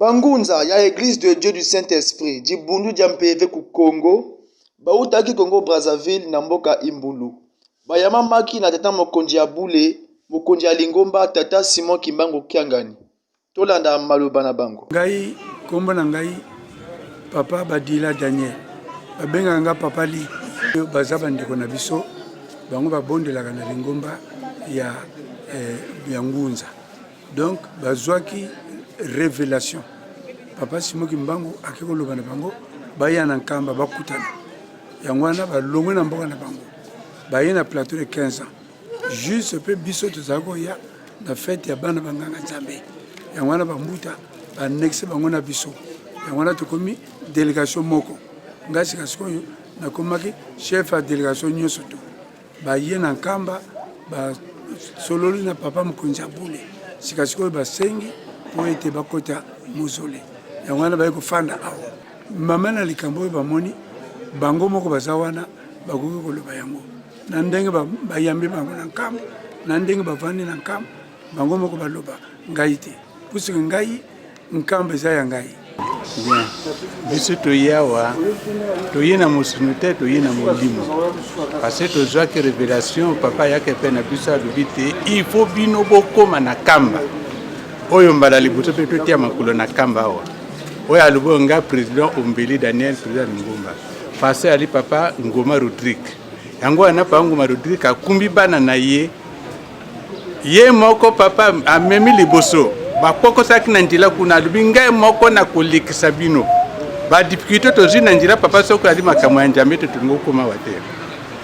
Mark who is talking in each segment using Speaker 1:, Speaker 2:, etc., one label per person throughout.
Speaker 1: bangunza ya eglise de dieu du saint esprit dibundu dya mpeve ku congo bautaki congo brazzaville na mboka imbulu bayamamaki na tata mokonzi ya bule mokonzi ya lingomba tata simon kimbangu kiangani Tolanda maloba na bango. Ngai kombo na
Speaker 2: ngai papa Badila Daniel. Babengaka nga papa li. Baza bandeko na biso. Bango babondelaka na lingomba ya eh, ya Ngunza. Donc bazwaki revelation. Papa Simo Kimbangu ake koloba na bango baya na Nkamba bakutana. Yango wana balongwe na mboka na bango. Baye na plateau de 15 ans. Juste pe biso tozali koya na fete ya bana banganga Nzambe, yango wana bambuta banexe bango na biso, yango wana tokomi delegation moko. Ngai sika sikoyo nakomaki chef ya delegation nyonso tu baye na Nkamba basololi na papa mokonzi ya bule, sika sikoyo basengi mpo ete bakota mozole, yango wana baye kofanda awa. Mama na likambo oyo bamoni bango moko baza wana bakoki koloba yango. na ndenge bayambi bango na nkambo na ndenge bavandi na nkambo bango moko baloba ngai te puisque ngai nkambo eza ya ngai bien
Speaker 3: biso toye awa toye na mosuni te toye na molimo parce tozwaki révélation papa ayaki epai na biso alobi te il faut bino bokóma na kamba oyo mbala liboso mpe totia makolo na kamba awa oyo alobi oyo ngai président ombeli daniel président lingomba parce ali papa ngoma rodrigue yango wana papa nguma rodrigue akumbi bana na ye ye moko papa amemi liboso bakpokosaki na nzela kuna alobi ngai moko nakolekisa bino badifikulte tozwi na nzela papa soko ali makambo ya njambe te tolingi kokoma wa te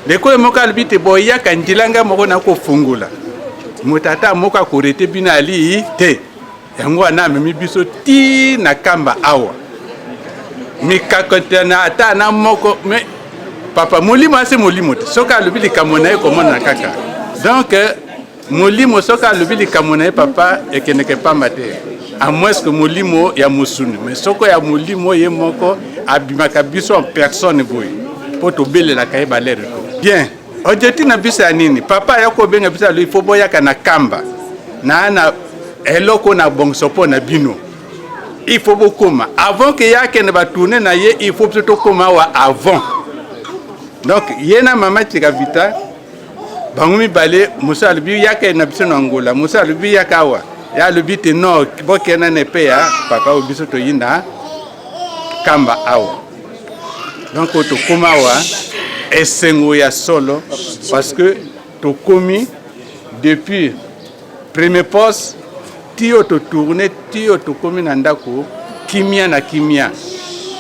Speaker 3: ndeko ye moko alobi te boyaka nzela ngai moko nakofungola moto ata moko akorete bino alii te yango wana amemi biso ti na kamba awa mikakotana ata na moko me papa molimo ase molimo te soki alobi likambo na ye komonana kaka donk molimo soki alobi likambo na ye papa ekendeke pamba te amoeske molimo ya mosuni me soko ya molimo ye moko abimaka biso en personne boye mpo tobelelaka ye balere to bien Ojeti na biso ya nini? Papa ya kobenga biso alobi fo boyaka na kamba na na eloko na bongso mpo na bino il faut bokoma avant ke ye akende batourne na ye il faut biso tokoma awa avant donc ye na mama chikavita bango mibale mosu alobi yaka na biso na ngola mosu alobi yaka awa ye alobi te no bokenda na epe ya papa oyo biso toyinda kamba awa donc tokoma awa esengo ya solo parce que tokomi depuis premier poste tiyo totourne tiyo tokomi na ndako kimia na kimia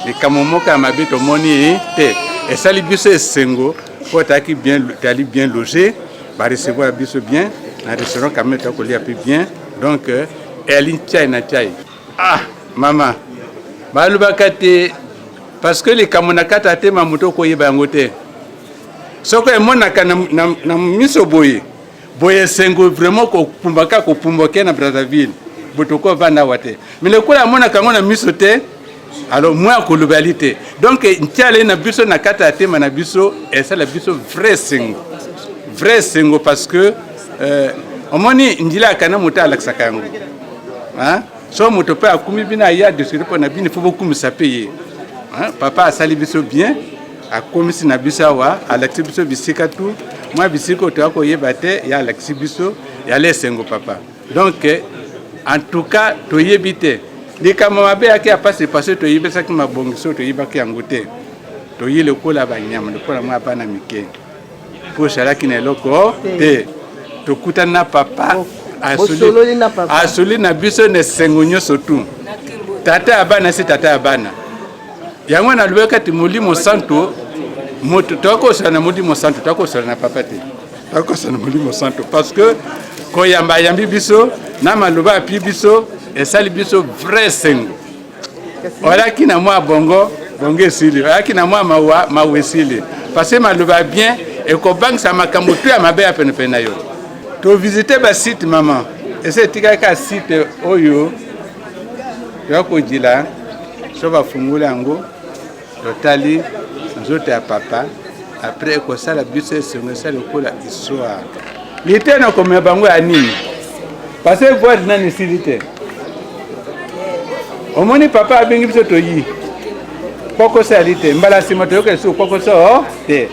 Speaker 3: likambo moko ya mabe tomoni te esali biso esengo mpo tayaki bien tali bien loge barecevoir biso bien na restaurant kamete akolia mpe bien donc elinchai na chai Ah mama balobaka te parce que likambo na kati atema moto okoyeba yango te soko emonaka na, na, na miso boye boye esengo vraiment kopumba kaka kopumba ke na brazzaville botoko vanda awa te me lokola amonaka yango na miso te alors moi akoloba yali te donc ntiala ye na biso na kati ya tema na biso esala biso vrai esengo vrai esengo parce que Eh, omoni njila ya kana moto alakisaka yango so moto mpe akumi bino aya discuter mpo na bino fo bokumisa mpe ye papa asali biso bien akomisi na biso awa alakisi biso bisika tu mwa bisika oyo toya koyeba te ye alakisi biso yala esengo papa donc en tout cas toyebi te likambo mabe yaki ya pasi pasi toyebisaki mabongisi oyo toyebaki yango te toyi lokola banyama lokola mwa bana mike mpo ezalaki na eloko te tokutani na papa asuli na biso na esengo nyonso tu tata ya bana si tata ya bana yango nalobaki ete molimo santo moto tokosala na molimo santo tokosala na papa te tokosala na molimo santo parce que koyamba ayambi biso na maloba api biso esali biso vrai esengo olaki na mwa bongo bongo esili olaki na mwa mawa mawa esili parce maloba bien ekobangisa makambo tu ya mabe ya penepene na yo tovisite basite mama esi etikali kaka site oyo ya kojila so bafungoli yango Totali nzoto ya papa apres ekosala biso esengo esa lokola histoire lite na komema bango ya nini pase voile nani esili te omoni papa abengi biso toyi kpokoso ya lite mbala nsima toyoka lisusu kpokoso oh, te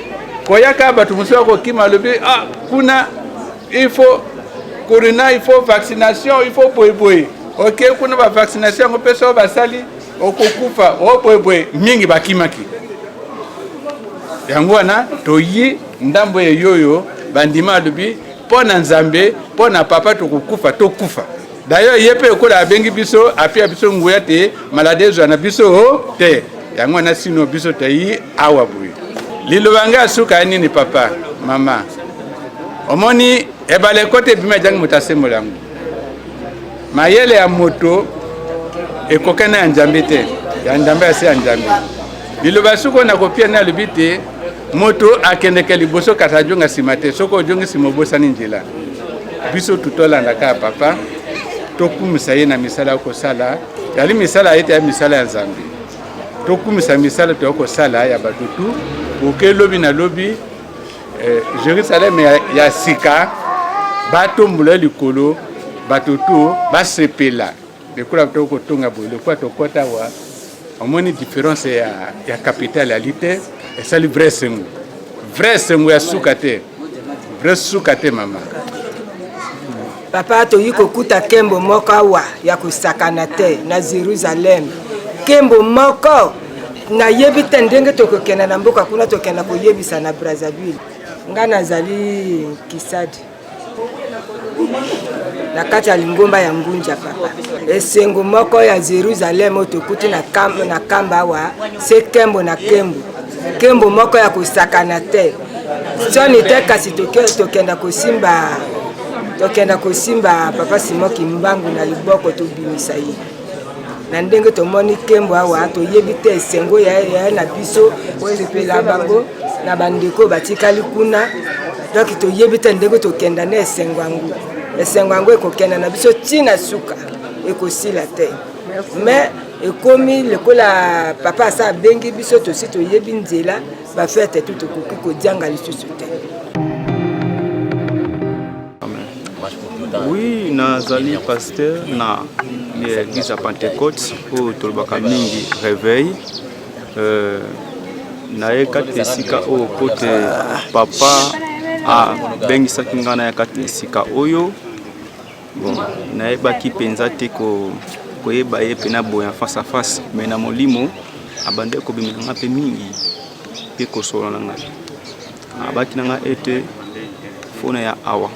Speaker 3: koyaka bato mosusu akokima alobi ah, kuna il faut corona il faut vaccination il faut boyeboye oke okay, kuna bavaccination yango mpe soo basali okokufa obwebwe oh, mingi bakimaki yango wana toyi ndambo ya yoyo bandima alobi mpo na nzambe mpo na papa tokokufa tokufa d'ailleurs ye mpe lokola abengi biso apia biso nguya te maladi ezwa na biso oh, te yango wana sino biso toyi awa boye liloba ngai ya suka ya nini papa mama omoni ebale ekota ebima ejangi moto asembola yango Mayele ya moto ekokani na ya Njambe te, ya Njambe ase ya Njambe. Liloba soki oyo nakopia nde alobi te moto akendeke liboso kasi ajonga nsima te, soki ojongi nsima obosani njela. Biso tutolanda kaka papa, tokumisa ye na misala ya kosala, yali misala ete ya misala ya Nzambe. Tokumisa misala toya kosala ya bato tu oke lobi na lobi eh, jerusalem ya, ya sika batombola likolo bato to basepela lokola to kotonga boye lokola tokɔta wa omoni différence ya, ya capitale ali te esali vrai esengo vrai esengo ya suka te vrai suka te mama Papa,
Speaker 4: toyi kokuta kembo moko awa ya kosakana te na Jerusalem, kembo moko nayebi te ndenge tokokenda na mboka kuna, tokenda koyebisa na Brazzaville. Ngai nazali Kisadi na kati ya lingomba ya Ngunja papa. Esengo moko ya Jerusalem oyo tokuti na kamba awa se kembo na kembo, kembo moko ya kosakana te. soni te kasi tokenda kosimba tokenda kosimba papa simon kimbangu na liboko tobimisa ye na ndenge tomoni nkembo awa toyebi te esengo ya ye na biso osepela bango na bandeko batikali kuna donki toyebi te ndenge tokenda na esengo yango esengo yango ekokenda na biso ntina suka ekosila te mais ekomi lokola papa asa abengi biso tosi toyebi nzela ba fete tout okoki kodianga lisusu te
Speaker 5: oui nazali pasteur na église ya pentecote oyo tolobaka mingi réveil euh, naye kati na esika oyo mpo te papa abengisaki ngai naya kati na esika oyo Bon, nayebaki mpenza te ko, koyeba ye mpe naboya face à face, mais na molimo abandaki kobimela nga mpe mingi mpe kosolola na ngai. Abaki na nga ete fona ya awa,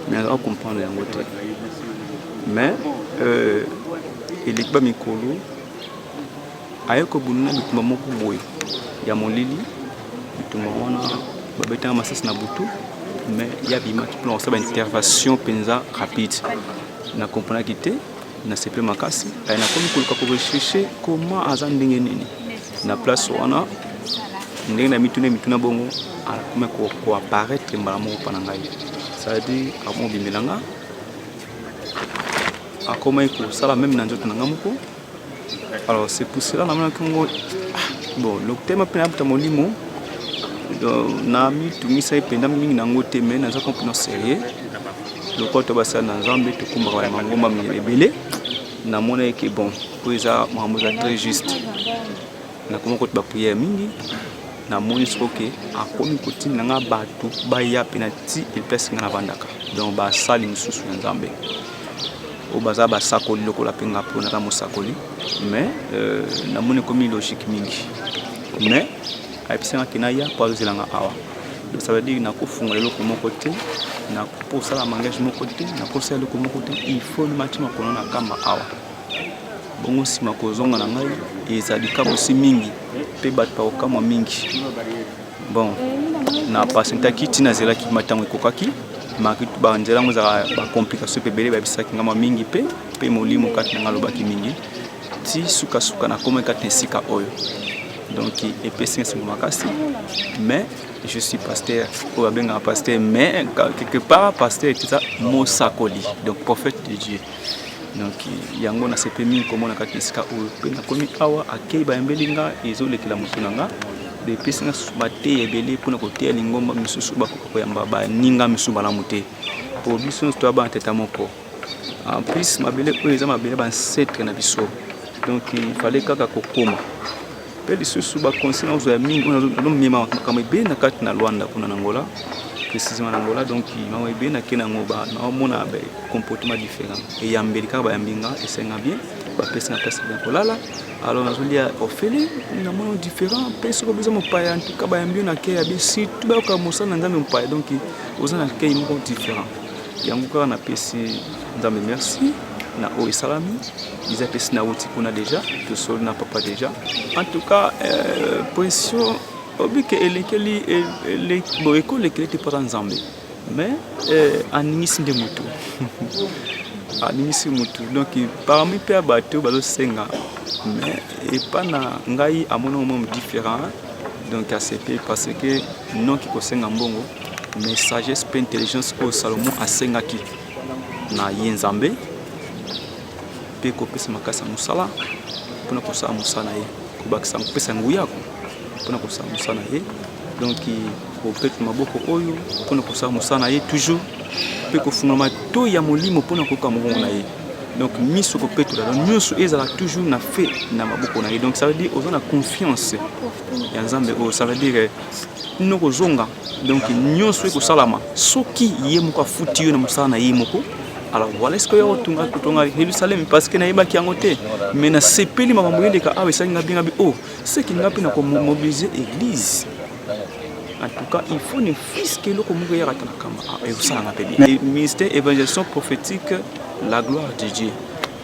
Speaker 5: mais nazaka comprendre yango te. Mais euh, eleki ba mikolo Aye kobunda na bitumba moko boye ya molili, bitumba wana babetanga masasi na butu mais ya bimaki mpona kosala baintervention mpenza rapide na comprenaki te na seple makasi aye nakomi koluka korecherche koma aza ndenge nini na place wana ndenge na mituna mituna bongo akomi koapparaître mbala moko mpa na ngai c'est-à-dire akomobimela nga akomaki kosala meme na nzoto na ngai moko Alors c'est pour cela namonaki yango ah, bon lokutema mpe nayabuta molimo namitungisaki mpenza mingi na yango te mai naza complètement sérieux lokola to basala na nzambe tokumbaka na mangomba mingi ebele namonaki ke bon mpo eza makambo eza très juste Nakoma kote ba prière mingi na moni soko ke akomi kotinda nga bato baya mpe na ti elpesi nga navandaka donc basali mosusu ya nzambe oyo baza basakoli lokola mpe nga mpo naza mosakoli mais euh, namoni ekomi logique mingi mais ayebisanga ke naya mpo azozela nga awa donc ça veut dire nakofungola eloko moko te nakosala mangage moko te nakosala eloko moko te il faut namatima kono na kamba awa Bongo nsima kozonga na ngai eza likabosi mingi mpe bato bakokamwa mingi. Bon, na pasentaki ntina azelaki matango ekokaki banzela yango ezalaka bacomplication mpe ebele bayebisaki ngai mwa mingi mpe mpe molimo kati na ngai alobaki mingi ti sukasuka nakomaki kati na esika oyo donc epesi ngai esengo makasi mais je suis pasteur oyo abengaka pasteur mais quelque part pasteur eza mosakoli donc prophète de dieu donc yango nasepeli mingi komona kaka esika oyo mpe nakomi awa akei bayambeli nga ezolekela motu na nga epesi nga susu bateya ebele mpona koteya lingomba misusu bakoka koyamba baninga misusu malamu te mpo biso nyonso toya bana tata moko en plus mabele oyo eza mabele bansetre na biso donc ifale kaka kokoma Pe lisusu ba conseil na ozwa ya mingi oyo nazo mema makambo ebele na kati na Luanda kuna na Angola précisément na Angola donc makambo ebele na kena ngo ba na mona ba comportement différent et ya mbeli kaka ba yambi nga esenga bien ba pesi na place bien kolala alors nazo lia ofele na mona différent pe soko biza mopaya en tout cas ba yambi na ke ya bi surtout ba ka mosala na nzambe mopaya donc oza na ke moko différent yango kaka na pesi nzambe merci na oyo esalami Eza pesi na wuti kuna deja tosoli na papa deja en tout cas euh, pression obike elekeli bo ekolekeli te mpata nzambe mais euh, aningisi nde motu aningisi motu donc parmi mpe ya bato bazosenga mais epa na ngai amoni ngo mome différent donc asepe parce que noki kosenga mbongo mais sagesse mpe intelligence oyo salomo asengaki na ye nzambe mpe kopesa makasi ya mosala mpona kosala mosala na ye kobakisa kopesa nguya mpona kosala mosala na ye donc kobeta maboko oyo mpona kosala mosala na ye toujours mpe kofungola matoi ya molimo mpona koyoka mongongo na ye donc miso kopetola donc nyonso ezala toujours na fe na maboko na ye donc ça veut dire oza na confiance ya nzambe oyo ça veut dire noko ozonga donc nyonso ekosalama soki ye moko afuti yo na mosala na ye moko alors voilà eske oya kotonga kotonga yelusalemi parce que nayebaki yango te mais nasepeli makambo eleka awa esali nga bingabi o oh, seki nga mpe nakomobilise église en tout cas il faut ne fiske eloko moko eyaka ta na kama ah, ekosalanga mpe bien ministère évangelisation prophétique la gloire de dieu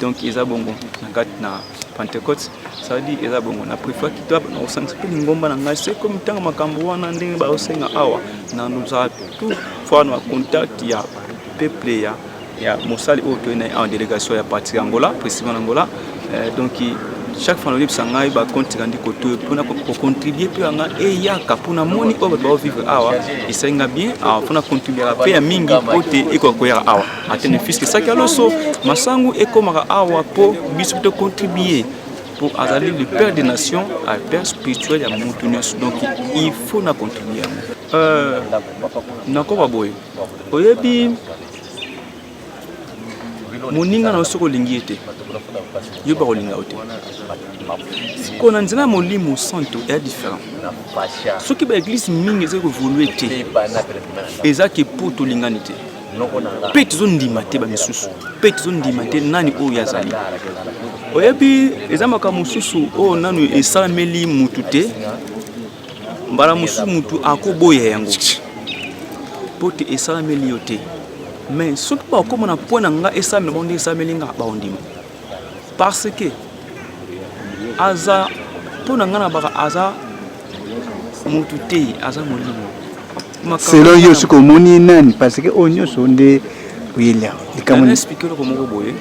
Speaker 5: donc eza bongo na kati na Pentecote ça veut dire eza bongo na prefa kita na kosangisa mpe lingomba na ngai se komi ntango makambo wana ndenge baosenga awa na nozala tout fois na contact ya peuple ya ya mosali oyo toyei na en délégation ya parti ya angola précisément na angola euh, donc chaque fois nayebisa ngai bakonti kandi kotoyo mpona kocontribue mpe yanga eyaka mpo namoni oyo bato baovivre awa esali nga bien mpona contribuaka mpe ya mingi mpo te ekoka koyaka awa atene fiske saki aloso masangu ekomaka awa mpo biso to contribuer mpo azali le père des nations a père spirituel ya motu nyonso donc il faut na contribuer yango euh, nakoba boye oyebi moninga na yo soki olingi ye te yo bakolinga yo te sikoyo na nzela ya molimo santo eya différent soki baeglise mingi ezali kovolue te eza ke mpo tolingani te mpe tozondima te bamisusu mpe tozondima te nani oyo azali oyebi eza makambo mosusu oyo nanu esalameli mutu te mbala mosusu mutu akoboya yango mpo te esalameli yo te mais soki bakoma na mpo na nga esalamela bango nde esalameli nga baondima parce que aza mpo na ngai na baka aza motu te aza molimo selon yo soki
Speaker 2: omoni nani parce que oyo nyonso nde oyela likambo explike
Speaker 5: eloko moko boye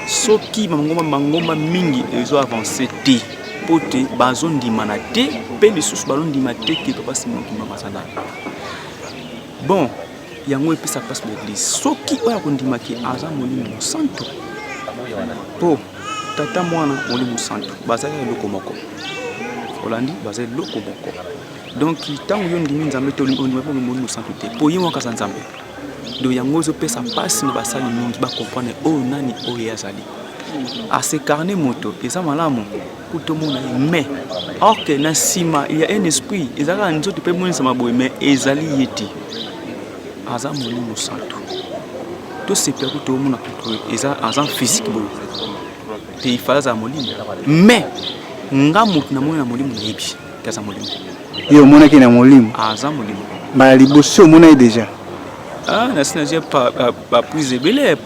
Speaker 5: soki mangomba mangomba mingi ezo avance te mpo te bazondimana te mpe lisusu bazondima te ke papa simoki mama azalaka bon yango epesa mpasi na eglize soki oyo akondimaki aza molimo mosantu mpo tata mwana molimo mosantu bazali eloko moko olandi baza eloko moko donc ntango yo ondimi nzambe te ondima bongo molimo mosantu te mpo ye moko aza nzambe do yango ezopesa mpasi na basali mingi bakomprane oyo nani oyo ye azali asekarne moto eza malamu kutu tomona ye mais or que na nsima il y a un esprit eza kaka nzoto mpe emonisama boye mais ezali ye te aza molimo santu tosepela kutu omona kutu eza aza physique boye te ifala azala molimo mais nga moto namoni na molimo nayebi te aza molimo ye omonaki
Speaker 2: na molimo aza molimo
Speaker 5: mbala liboso
Speaker 2: omona ye déjà ah, nasi
Speaker 5: nazwi baprise ebele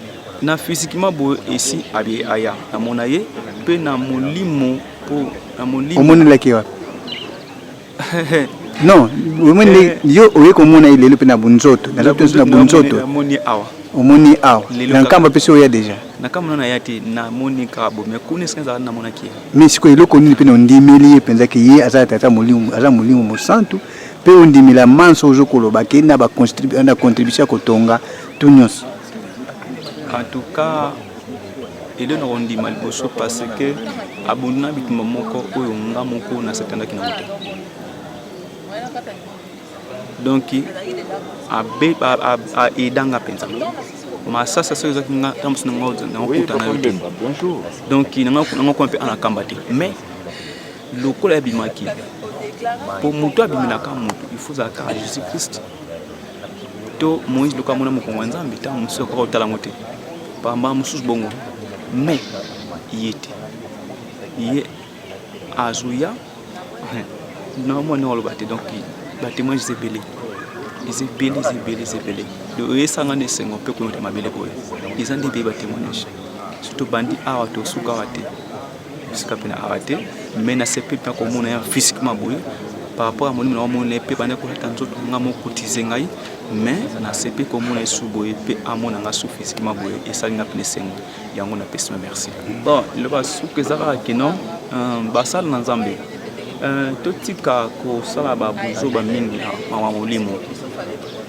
Speaker 5: Na physiquement boye esi abi aya na mona ye pe na molimo po na molimo. Omoni laki wapi?
Speaker 2: non omoni eh. yo oye komona ye lelo mpe na bunzoto na nzoto na bunzoto
Speaker 5: omoni awa
Speaker 2: na nkambo apesi oya deja nakamona na ya te
Speaker 5: namoni kaka bo mais kuna esika ezalaka namonaki ye mais sikoyo eloko nini mpe
Speaker 2: na ondimeli ye mpenza ke ye aza tata molimo aza molimo mosantu mpe ondimela manso ozokoloba ke na contribution ya kotonga tout nyonso
Speaker 5: en tout cas ede na kondima liboso parce que abondu na bitumba moko oyo nga moko nasatandaki na moto donc aeda nga mpenza masasa soki ezaki nga ntango mosusu nangakuta na yo te donc nanga kuwa mpe anakamba te mais lokola yabimaki mpo moto abimelaka moto il faut azalaka jésus christ to moïse luka mona mokongo ya nzambe ntango mosusu akoka kotala yango te bambala mosusu bongo me ye te ye azoya na mwa ndenge oloba te donc batemoin eza ebele eza ebele eza ebele eza ebele oyesanga na esengo mpe koyota mabele boye eza nde ebele batemoignage surtout bandi awa tosuka awa te esika mpe na awa te mais nasepeli mpe komona ye physiquement boye par rapport ya molimo na omoni na ye mpe banda kolata nzoto nga mokotize ngai mais nasepeli komona ye su boye mpe amona nga su physiquement boye esali nga mpe esengo yango napesi ma merci bon liloba suka eza kaka kino euh, basala na nzambe euh, totika kosala babuzoba mingi na mawa molimo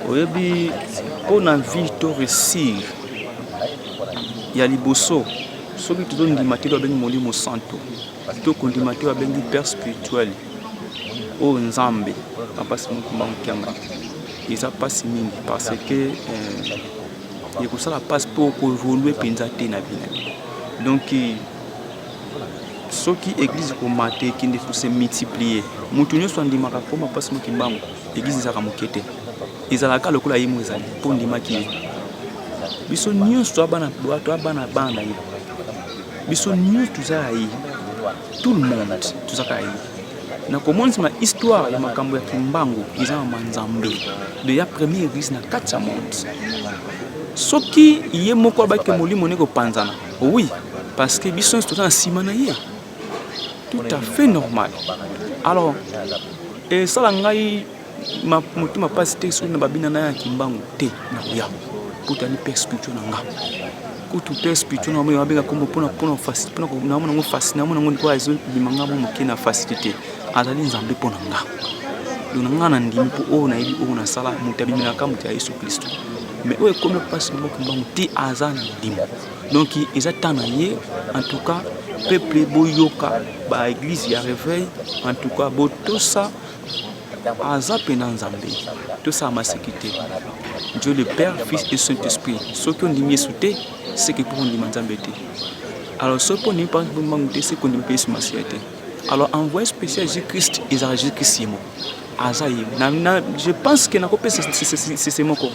Speaker 5: oyebi mpo na vie to réussir ya liboso soki tozondima te oyo abengi molimo santo to kondima te oyo abengi père spirituel oyo oh, nzambe bampasi mokumba mokianga eza mpasi mingi parce que euh, ekosala mpasi mpo koevolue mpenza te na bino donc soki eglize komata ekende kose multiplier moto nyonso andimaka koma mpasi mokimbango Eglise ezalaka moke te, ezalaka lokola ye moko ezali mpo ondimaki ye. Biso nyonso toa bana toa bana bana na ye, biso nyonso toza ya ye, tout le monde tozaka ya ye. Na komonisa na histoire ya makambo ya kimbangu eza na manzambe de ya première église na kati ya monde. Soki ye moko abaki molimo ne kopanzana, oui parce que biso nyonso toza na nsima na ye. tout à fait normal alors esala ngai motema mpasi te soki na babina na ya kimbangu te na koya mpo tani mpe spirituel na nga kutu mpe spirituel na nga abenga kombo mpona mpona facile mpona namona yango facile namona yango ndikoyo ezobima nga mo moke na facile te azali nzambe mpo na nga donc na nga na ndimi mpo oyo nayebi oyo nasala moto abimelaka moto ya yesu klisto mais oyo ekomi mpasi moko kimbangu te aza na ndimo donc eza temps na ye en tout cas peuple boyoka ba église ya réveil en tout cas botosa aza mpena nzambe tosala maseki te dieu le père fils et saint esprit soki ondimi yesu te seke mpo ondima nzambe te alors soki mpo ondimi mbangu te seke ondimi mpe yesu masiya te alors envoyé spécial jésus christ ezalaka jésus christ ye moko aza ye na, na, je pense que nakopesa sese moko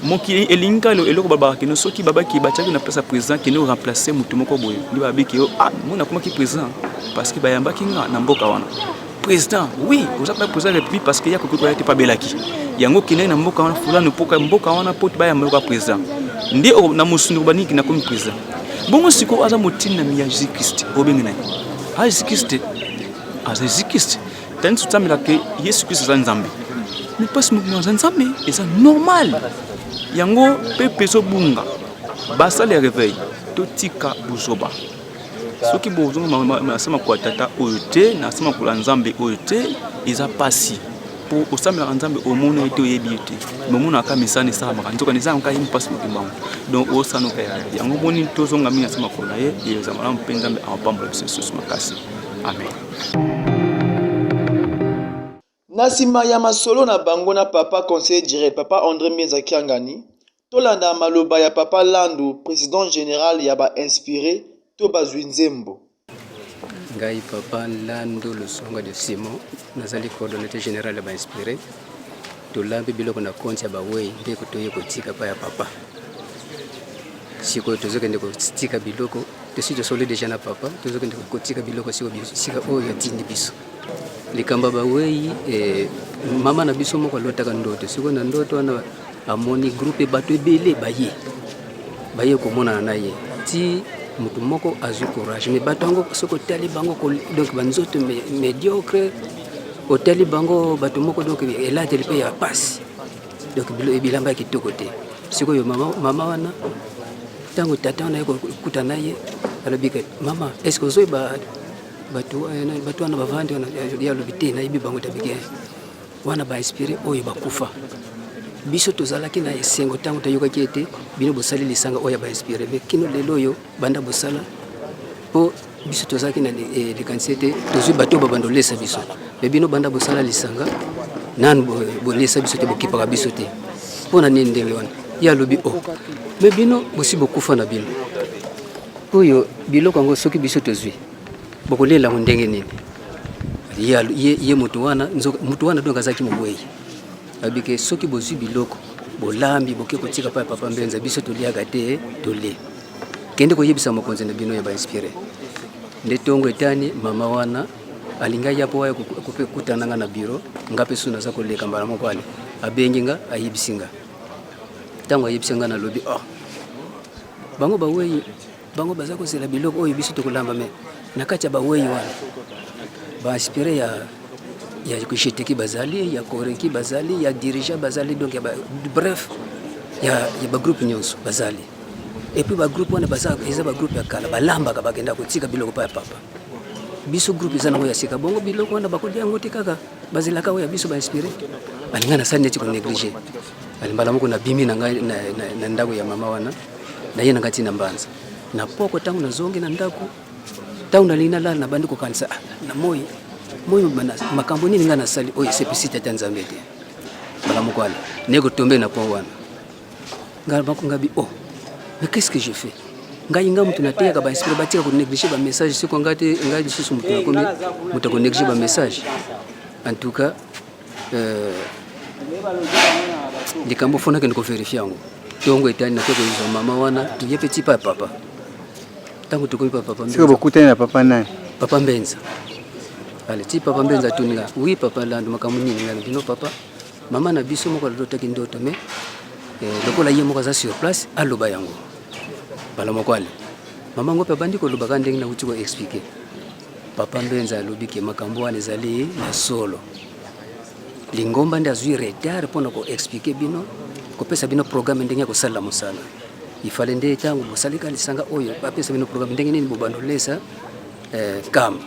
Speaker 5: mokili elingi kaka eloko babaka kino soki babaki batiaki na place ya président kende oremplace motu moko boye nde babiki yo ah mona akomaki président parce que bayambaki nga na mboka wana président oui oza mpe président ya république parce que ya koki koya te mpe abelaki yango okendaki na mboka wana fulani mpoka mboka wana mpo bayamba yoka président nde na mosunduku baniki nakomi président bongo sikoyo aza motindami ya jésus christ obengi na ye aza jésus christ aza jésus christ Tani sutsamela ke Yesu Kristo aza Nzambe. Mais pas mukuna aza Nzambe, eza normal. Yango pepe ezo bunga. Basali ya réveil, totika buzoba. Soki bozonga nasema kwa tata oyo te, nasema kula Nzambe oyo te, eza pasi. po osambelaka nzambe omona ye te oyebi ye te momonaka misana esalamaka nzokani eza yango kayemi mpasi mokili bango donc osanoka yango omoni tozonga mingi na se makolo na ye eza malamu mpe nzambe apambola biso lisusu makasi amen
Speaker 1: Na nsima ya masolo na bango na papa conseiller general papa Andre Mbienza Kiangani, tolanda maloba ya papa Landu, president general ya ba inspires to bazwi nzembo. Ngai
Speaker 6: papa Landu Lusonga de Simon, nazali coordonnateur general ya ba inspires. Tolambi biloko na konti ya bawei nde toye kotika pa ya papa. Sikoyo tozokende kotika biloko tosi tosoli deja na papa tozokende kotika biloko siko sika oyo atindi biso likambo bawei eh, mama na biso moko alotaka ndoto sikoyo na ndoto wana amoni groupe bato ebele baye baye komonana na ye ti moto moko azwi courage mais bato yango soki otali bango donc banzoto médiocre otali bango bato moko donc elateli mpe ya mpasi donc bilamba ya kitoko te sikoyo mama, mama wana ntango tata wana ye kokuta na ye alobi ke mama est ce que ozoyeba bato eh, wana bavandi wana ye alobi te nayebi bango tabike wana bainspire oyo bakufa biso tozalaki na esengo ntango toyokaki ete bino bosali lisanga oyo ya bainspire me kino lelo oyo banda bosala mpo biso tozalaki na eh, likanisi ete tozwi bato oyo babanda olesa biso me bino banda bosala lisanga nanu bolesa biso te bokipaka biso te mpo na nini ndenge wana ye alobi o oh, me bino bosi bokufa na bino oyo biloko yango soki biso tozwi bokolela yango ndenge nini ye moto wana moto wana donk azalaki mowei Babi ke soki bozwi biloko bolambi boke kotika pa papa Mbenza biso toliaka te tole. Kende koyebisa mokonzi na bino ya ba inspire. Nde tongo etani mama wana alinga ya po ya kope kutana nga na biro nga pe suna za koleka mbala moko ale abengi nga ayebisi nga. Tango ayebisi nga na lobi oh bango bawei Bango baza kozela biloko oyo biso tokolamba me na kati ya bawei wana baaspire ya ya kisheteki bazali ya koreki bazali ya dirigent bazali donc ya ba, bref ya, ya bagroupe nyonso bazali epuis bagroupe wana baza eza bagroupe ya kala balambaka bakenda kotika biloko pa ya papa biso groupe eza nango ya sika bongo biloko wana bakolia yango te kaka bazelaka oyo ya biso bainspire balinga na sani neti koneglige mbala moko nabimi na ngai na ndako ya mama wana naye na ngai ntina mbanza na poko ntango nazongi na ndako ntango nalingi nalala nabandi kokanisa ah, na moi moi makambo nini ngai nasali oyo esepisi tata nzambe te mbala moko wana naye kotombe na pont wana ngai banko ngabi o oh, mais qu'est ce que je fais ngai ngai moto nateyaka bainspire batika konéglige bamessage soko ngai te ngai lisusu moto nakomi moto akonéglige bamessage en tout cas Euh, likambo fo nakende koverifie yango ntongo etani nake koyuza mama wana tuye mpe tipa ya papa ntango tokomi pa papa siko bokutani na papa nani
Speaker 7: papa mbenza
Speaker 6: ale ti papa mbenza atuni nga wi papa lando makambo nini nga bino papa mama na biso moko alotaki ndoto me eh, lokola ye moko aza sur place aloba yango bala moko ale mama ngo mpe abandi kolobaka ndenge nauti koexplike Papa Mbenza alobi ke makambo wana ezali na solo. Lingomba nde azwi retard mpo na ko expliquer bino, kopesa bino programme ndenge ya kosalela mosala. Ifale nde ntango bosalika lisanga oyo bapesa bino programme ndenge nini bobanda olesa eh, kama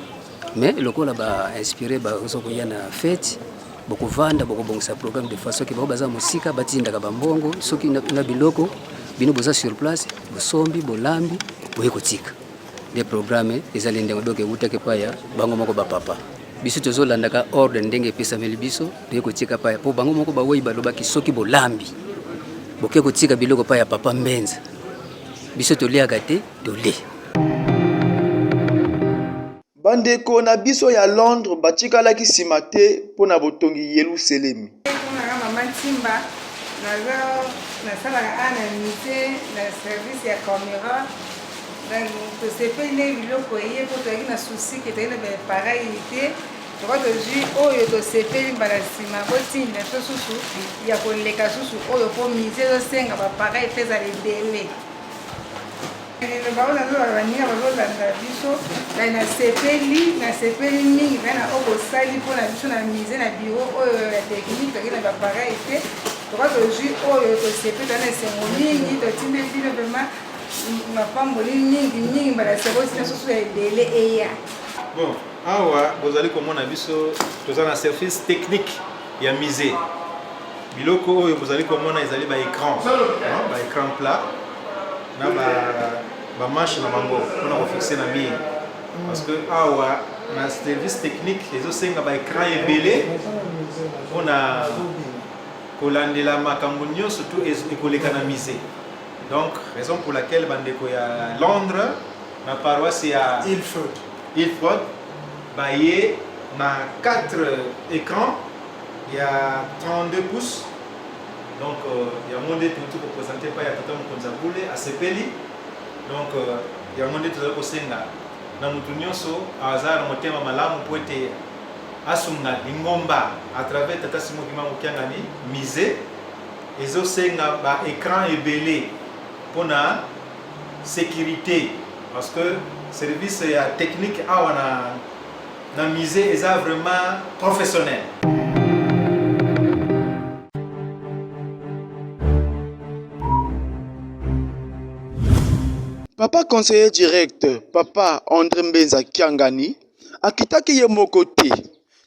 Speaker 6: mais lokola ba inspire bazo koya na fete bokovanda bokobongisa programme de façon ke bango baza mosika batindaka bambongo soki na biloko bino boza sur place bosombi bolambi boye kotika de programme ezali ndenge donc ewutaki epai ya bango moko bapapa biso tozolandaka ordre ndenge epesameli biso toye kotika paya mpo bango moko bawei balobaki soki bolambi boke kotika biloko pa ya papa mbenza biso toliaka te tolie
Speaker 1: Bandeko na biso ya Londres batikalaki nsima te mpo na botongi Yeluselemi. Naza mama
Speaker 4: Ntimba, nasalaka awa na musee na service ya camera. Tosepeli ndenge biloko eye mpo toyaki na souci ke toyaki na ba pareil te, toko tozwi oyo tosepeli mbala nsima botinda biso susu ya koleka susu oyo mpo musee ezosenga ba pareil mpe ezala ebele. liloba oyo nazo baninga bazolanda biso na nasepeli nasepeli mingi mpe na oyo bosali mpo na biso na mise na biro oyo ya teknike toke na bapareil te toka tozwi oyo tosepeli toza na esengo mingi totinde bino vraimen mapamboli mingi mingi mbala sekoti na soso ya ebele eya bon
Speaker 8: awa bozali komona biso toza na service technique ya musée biloko oyo bozali komona ezali ba écran ba écran plat na ba ba manche na bango mpona kofixe na mire parce que awa na service technique ezosenga ba écran ebele mpona kolandela makambo nyonso to ekoleka na musée donc raison pour laquelle bandeko ya londres na paroisse ya ilford baye na 4 ecran ya 32 pouces donc euh, yango nde touti kopresente epai ya tata mokonzi ya bule asepeli donc euh, yango nde tozali kosenga na moto nyonso azala na motema malamu mpo ete asunga lingomba à travers tata simo kimbangu kiangani musée ezosenga ba écran ebele mpo na sécurité Parce que service ya technique awa na, na musée eza vraiment professionnel.
Speaker 1: Papa conseiller direct, Papa Andre Mbenza Kiangani, akitaki ye moko te.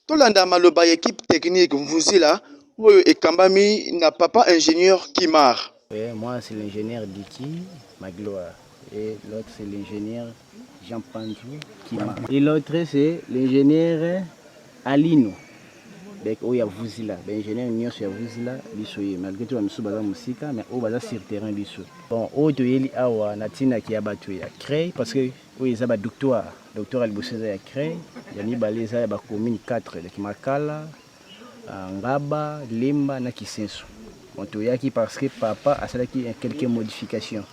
Speaker 1: Tolanda maloba ya equipe technique Mvuzila oyo ekambami na papa ingenieur Kimar. Eh, moi c'est
Speaker 9: l'ingenieur Dicky Magloire et l'autre c'est l'ingenieur Jean Panzu Kima et l'autre c'est l'ingenieur Alino donc oyo ya Vuzila ba ingenieur nyonso ya Vuzila biso ye malgré tout ba misusu baza mosika mais oyo baza sur terrain biso bon oyo toyeli awa na tina ki ya bato ya CREI parce que Oyo eza ba doctoire. Doctoire ya liboso eza ya Cre, ya mibale eza ya ba commune 4 eleki Makala, Ngaba, Lemba na Kisenso. Bon toyaki parce que papa asalaki quelques modifications.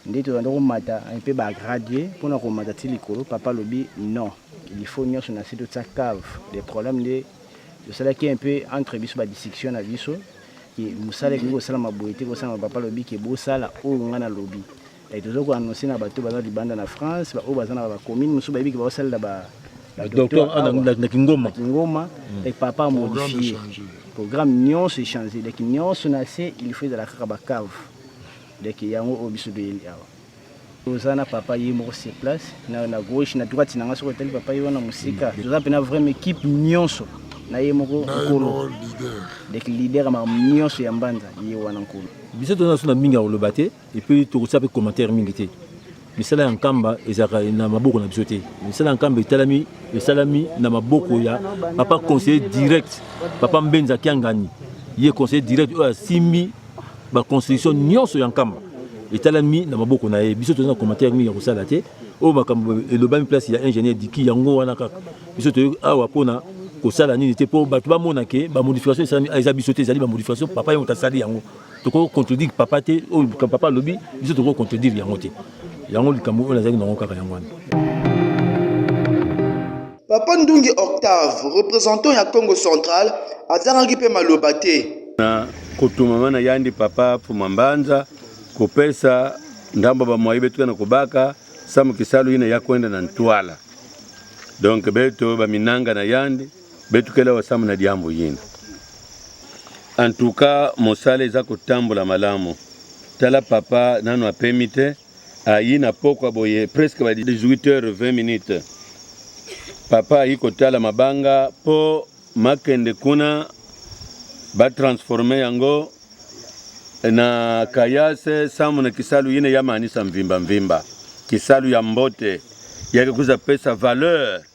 Speaker 9: Nde tozanda komata un peu ba graduer mpo na komata ti likolo papa alobi non il faut nyonso na se totia cave. Le problème nde tosalaki un peu entre biso ba discussion na biso ke mosala ekoki kosalama boye te kosalama papa alobi ke bosala oyo ngai nalobi. Et tozo ko annoncer na bato baza libanda na France, ba oyo baza na ba commune mosusu bayebi ke ba salela ba ba docteur
Speaker 7: na Kingoma. Kingoma mm. et papa
Speaker 9: modifié. Programme nyonso échangé. Donc nyonso na se il faut ezala kaka ba cave. Donc yango oyo biso toyeli awa. Toza na papa ye moko sur place na na gauche na droite na nga soko etali papa ye wana mosika. Mm. Toza mpe na vraiment équipe nyonso na ye moko nkolo. Donc leader ya makambo nyonso ya mbanza ye wana nkolo. Biso toza na mingi
Speaker 7: ya koloba te. Et puis tokotia pe commentaire mingi te. Misala ya Nkamba ezalaka na maboko na biso te. Misala ya Nkamba etalami esalami na maboko ya papa conseiller direct, papa Mbenza Kiangani. Ye conseiller direct oyo asimbi ba constitution nyonso ya Nkamba etalami na maboko na ye. Biso toza na commentaire mingi ya kosala te. Oyo makambo elobami place ya ingénieur Diki yango wana kaka. Biso toyo awa pona kosala nini te po bato bamona ke ba modification esalami eza biso te ezali ba modification papa yango tasali yango. toko contredire papa te oyo oh, papa alobi biso toko contredire yango te yango likambo oyo nazalaki nango kaka yango wana
Speaker 1: papa ndungi octave représentant ya congo central azangaki mpe maloba te na kotumama
Speaker 10: na yandi papa puma mbanza kopesa ndambo bamwayi betuka na kobaka samu kisalu ina ya kwenda na ntwala donc beto baminanga na yandi Betukela wasamu na diambu yini. En tout cas mosala eza kotambola malamu. Tala papa nanu apemi te ayi na pokwa boye presque ba 18h20 minutes. Papa ayi kotala mabanga po makende kuna ba transformer yango na kayase samu na kisalu yine ya manisa mvimba mvimba kisalu ya mbote yake kuza pesa valeur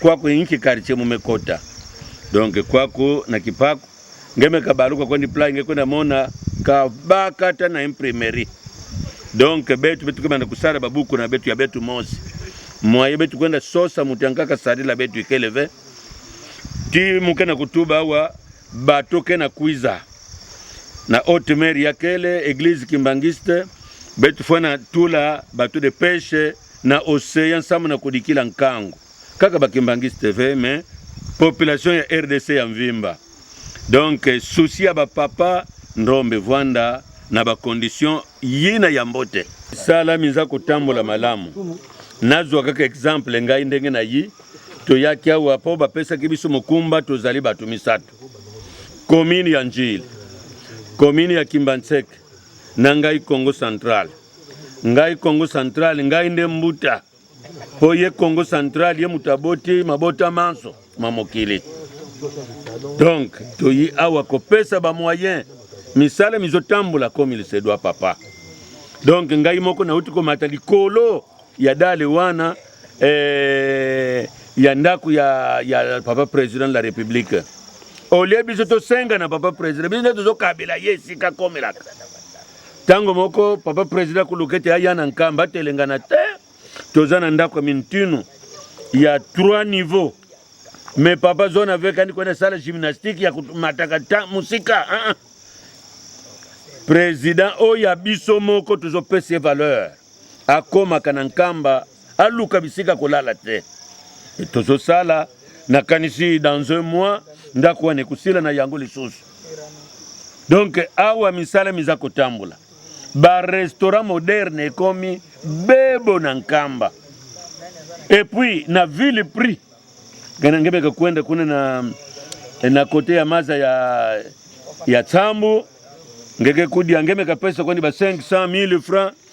Speaker 10: Kwako inki quartier mume kota. Donc kwako na kipaku ngeme kabaluka kwendi plan nge kwenda mona kabaka ta na imprimerie. Donc betu betu kemana kusala babuku na betu ya betu mosi. Mwaye betu kwenda sosa mutu yankaka salila betu ikeleve. Ti muke na kutuba awa bato ke na kuiza na haute mer ya kele eglise kimbangiste betu fana tula bato de peche na ocean nsambo na kodikila nkango kaka bakimbanguiste tv mais population ya rdc ya mvimba donc souci ya bapapa ndombe vwanda na bacondition yina ya mbote sala minza kotambola malamu nazwa kaka exemple ngai ndenge na yi toyaki awa mpo bapesaki biso mokumba tozali bato misato komine ya njili komine ya kimbanseke na ngai congo centrale Ngai Congo Central, ngai nde mbuta. Po ye Congo Central, ye moto aboti mabota manso ma mokili. Donc, toyi awa kopesa ba moyen misala mizotambola comme il se doit papa. Donc ngai moko nauti komata likolo ya dale wana eh, ya ndako ya, ya papa president de la republique olie biso tosenga na papa president biso nde tozokabela ye esika akomelaka Tango moko papa president kulukete aya na nkamba telengana te toza na ndako ya mintinu ya trois niveau me papa zona avekani kwenda sala gymnastique ya komataka ta mosika uh -uh. president oyo ya biso moko tozopesa ye valeur akomaka na nkamba aluka bisika kolala te tozosala nakanisi dans un mois ndako wana ekosila na yango lisusu donc awa misala miza kotambola barestaurant moderne ekomi bebo na nkamba epuis na ville prix gana ngebeka kwenda kuna na, na kote ya maza ya, ya tsambu ngeke kudia ngemeka pesa kwani ba 500 000 francs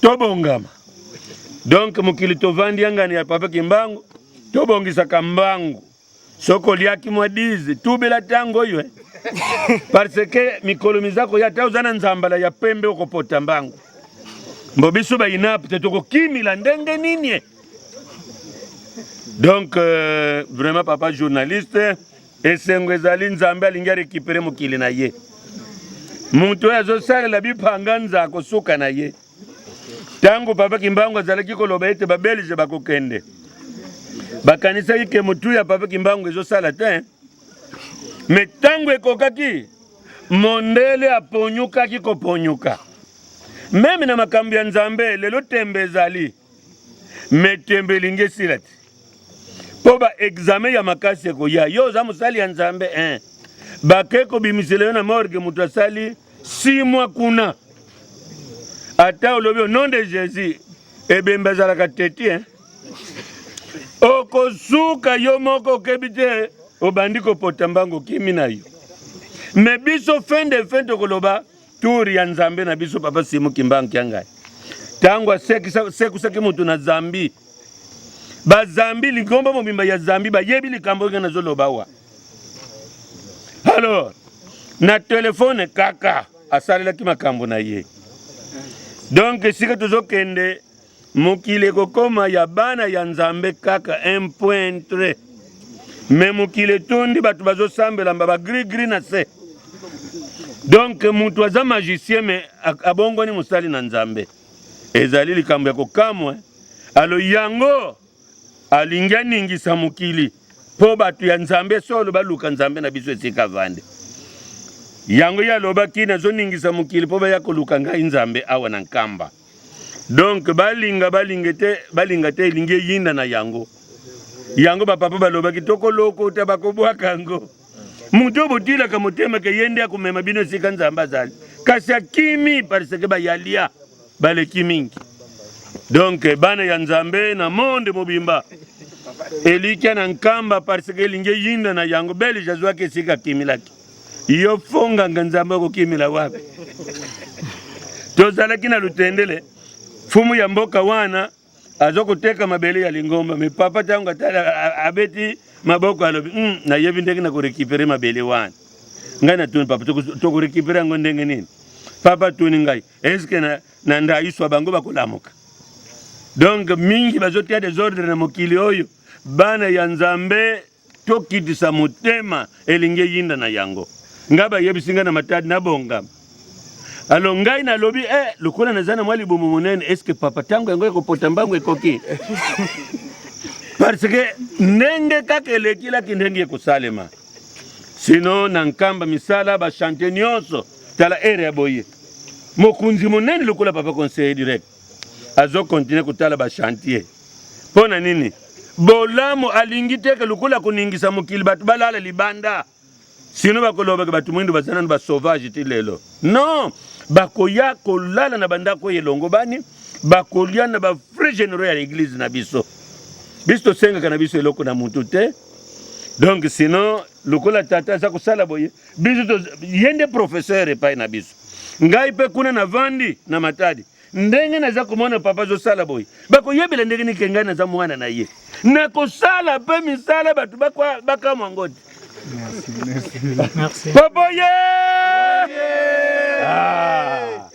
Speaker 10: tobongama donc mokili tovandi yangani ya papa kimbangu tobongisaka mbangu soki oliaki mwa dize tubela ntango oyo eh. parce que mikolo miza koya ata oza na nzambala ya pembe okopota mbangu mbo biso bainap te tokokimila ndenge nini eh. donc euh, vraiment papa journaliste Esengo ezali Nzambe alingi arekipere mokili na ye. Moto oyo azosalela bipanga nza akosuka na ye. Ntango Papa Kimbangu azalaki koloba ete babelge bakokende, bakanisaki ke motu ya Papa Kimbangu ezosala te, me ntango ekokaki mondele aponyukaki koponyuka. Meme na makambo ya Nzambe lelo tembe ezali. me tembe elingi esila te mpo baexame ya makasi ekoya yo oza mosali ya nzambe eh. bake kobimisela yo na morge moto asali si mwa kuna ata olobi au nom de jésus ebembe azalaka teti eh. okosuka yo moko okebi te obandi kopota mbango okimi na yo me biso fin de fin tokoloba Tour ya Nzambe na biso Papa Simon Kimbangu Kiangai ntango asekusaki moto na zambi bazambi ligombo mobimba ya zambi bayebi likambo oyo nazoloba wa alors na telefone kaka asalelaki makambo na ye donc esika tozokende Mokili ekokoma ya bana ya Nzambe kaka un point très. Mais mokili etondi bato bazosambela mba ba gris gris na se. Donc moto aza magicien mais abongwani mosali na Nzambe. Ezali likambo ya kokamwa. Alo yango alingi aningisa mokili mpo bato ya Nzambe solo baluka Nzambe na biso esika vande. Yango ye alobaki nazoningisa mokili mpo baya koluka ngai Nzambe awa na Nkamba. donc balinga balinga te balinga te elingi eyinda na yango yango bapapa balobaki tokolokota bakobwaka yango moto oyo botilaka motema ke ye nde akomema bino esika nzambe azali kasi akimi parce ke bayalia baleki mingi donk bana ya nzambe na monde mobimba elikya na nkamba parce ke elingi eyinda na yango belge azwaki esika akimilaki Yo fonganga nzambe okokimela wapi? Tozalaki na lutendele fumu ya mboka wana azo koteka mabele ya lingomba me papa ntango abeti maboko alobi mm, nayebi ndenge na korekipere mabele wana ngai natuni papa tokorekipere yango ndenge nini papa atuni ngai eske na, na ndayiswa bango bakolamuka donc mingi bazotia desordre na mokili oyo bana ya nzambe Tokitisa motema elingi eyinda na yango. Ngai bayebisi ngai na matadi na bongama. Alo ngai nalobi eh, lokola naza na mwa libumu monene, eske papa ntango yango ekopota mbangu ekoki parce que ndenge kaka elekelaki ndenge ekosalema sino na nkamba misala bashante nyonso tala ere ya boye mokonzi monene lokola papa conseiller direct azo continuer kotala ba chantier mpo na nini? Bolamu alingi te ke lokola koningisa mokili bato balala libanda, sino bakolobaka bato mwindo baza nano basauvage ti lelo. Non, bakoya kolala na bandako oyo elongobani, bakolia na ba frais generaux ya eglise na biso. Biso tosengaka na biso eloko na mutu te, donc sinon lokola tata aza kosala boye biso ye nde professeur epai na biso ngai mpe kuna navandi na matadi ndenge naza komona papa azosala boye bakoyebela ndenge nike ngai naza mwana na ye nakosala mpe misala bato bakamwa ngo te
Speaker 11: papa ye
Speaker 10: ah.